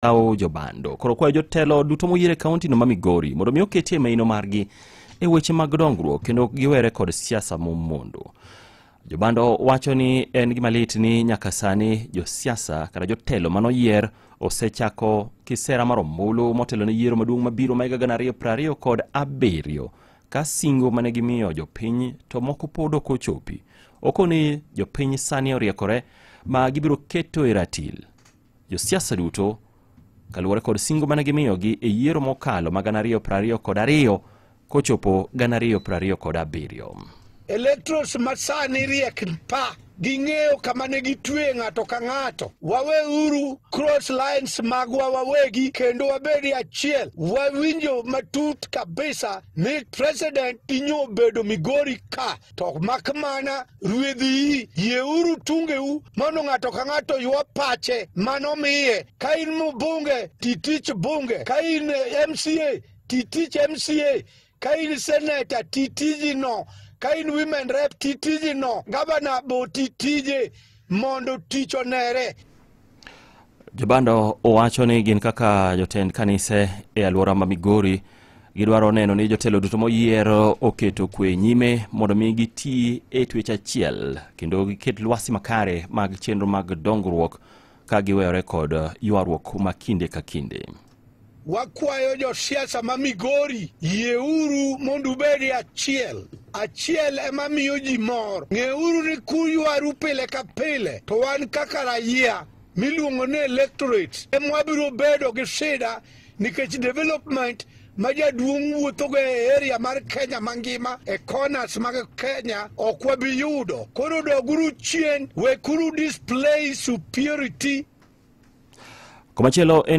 lawo jobando koro kwayo jotelo duto moyier e kauntino ma migori mondo mi oketie maino margi e weche mag dongruok kendo giwere kod siasa momondo jobando wacho ni en gima lit ni nyaka sani josiasa kata jotelo manoyier osechako kisera mar ombulu motelo ne yiero maduong' mabiro ma higa gana ariyo piero ariyo kod abiriyo ka singo mane gimiyo jopiny to moko pod ok ochopi okoni jopiny sani oriekore ma gibiro keto e ratil josiasa duto kaluwore kod singo mane gimiyogi e yiero mokalo ma gana ariyo piero ariyo kod ariyo kochopo gana ariyo piero ariyo kod abiriyo electros masani riek pa ging'eyo kama ne gitwe ng'ato ka ng'ato waweuru cross lines magwa wawegi kendo wabedi achiel wawinjo matut kabisa ni president inyo bedo migori ka To mak mana ruedhi yieuru tungeu mondo ng'ato ka ng'ato ywa pache mano miye. Ka in mbunge, titich bunge. Ka in eh, MCA, titich MCA. Ka in seneta, titijino. Ka in women rep, titijino. Gavana bo titije mondo tich onere. Jobando owacho ni gin kaka jotend kanise e alwora ma Migori gidwaro neno ni jotelo duto moyiero oketo kwe nyime mondo mi giti e twech achiel kendo giket lwasi makare mag chenro mag dongruok ka giweyore kod ywaruok ma kinde ka kinde. Wakwayo josiasa ma Migori, yieuru mondo ubed e achiel. Achiel ema miyo ji mor. Ng'euru ni kuywaru pile ka pile, to wan kaka raia miluongo ni electorate ema wabiro bedo gi shida nikech development ma jaduong' wuothogo e area mar Kenya mangima e corners mag Kenya ok wabi yudo. Koro doguru chien, wekuru display superiority Komachielo en